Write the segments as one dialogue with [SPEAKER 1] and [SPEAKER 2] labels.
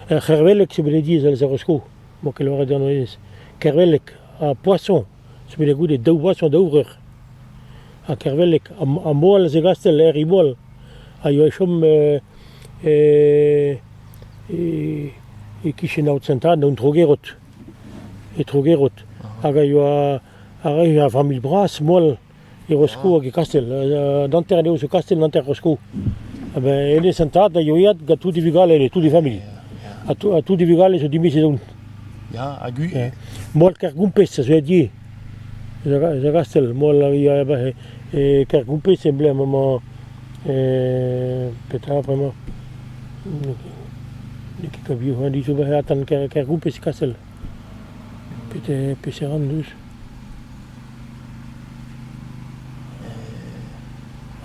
[SPEAKER 1] Ar c'hervelleg sebediz a lâr sko, emañ ket lâret an aez. Kervelleg ha poason zo bet goude daou boason daou vreur. Ha kervelleg ha moal zegastel er Imoal a yoa e chom e-kichen aod Sent-Anne, un tro-gerot. E tro-gerot. Hag a yoa... a rae ur familh bras moal e Rosko hag e Kastell. An hanter anezho zo Kastell, an hanter Rosko. Ben, hennezh an tad a yoa gant tout e vugale, tout e familh. Ha tout e vugale zo dimezet e-hont. Ya, hag ui.
[SPEAKER 2] Moal Kergompez
[SPEAKER 1] a zo ed ivez. Eus a Gastell, moal a ivez e Kergompez emblem amañ. Petra bremañ? N'eo ket kabiou, an dit zo bet atan Kergompez e Kastell. Peseurt an deus?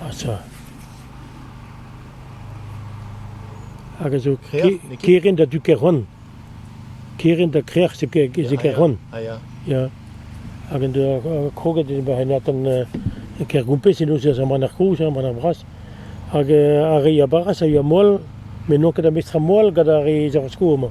[SPEAKER 1] Asa, hag a zo kerent ha du Kerann. Kerent ha krec'h zo Kerann. Ah ya. Ya. Hag en doa kroget henatan Kergoupez en deus ar manac'h kozh, ar manac'h bras. Hag ar re a baras a yoa moal, met n'on ket ar mestr-moal gant ar re zavaskoù amañ.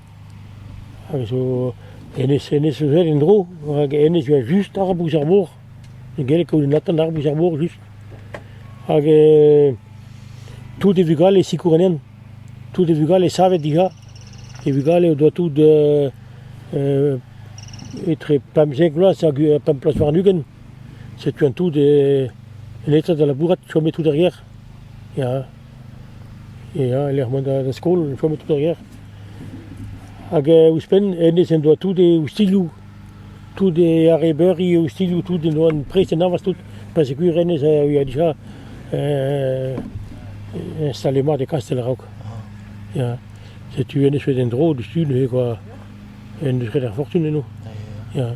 [SPEAKER 1] a zo hennezh hennezh zo aet en-dro rak hennezh a oa just arabouz ar mor ne gelle ket un atant arabouz ar mor just hag tout e vugale sikour anezhan tout e vugale savet dija e vugale o doa tout etre pemzek vloaz hag pemp bloaz warn-ugent setu an tout en eta da labourat chome tout er gêr Ya, ya e-lec'h mont da skol e chomo tout ar ger. Hag ouzhpenn hennezh en doa tout e oustilhoù, tout e arrebeurioù, oustilhoù tout en doa prest en avañs tout, pa segur hennezh a yoa dija installet mat e kastell a-raok. Ya, setu hennezh bet en-dro diouzhtu neuze kwa, en deus graet ar fortun eno. Ya.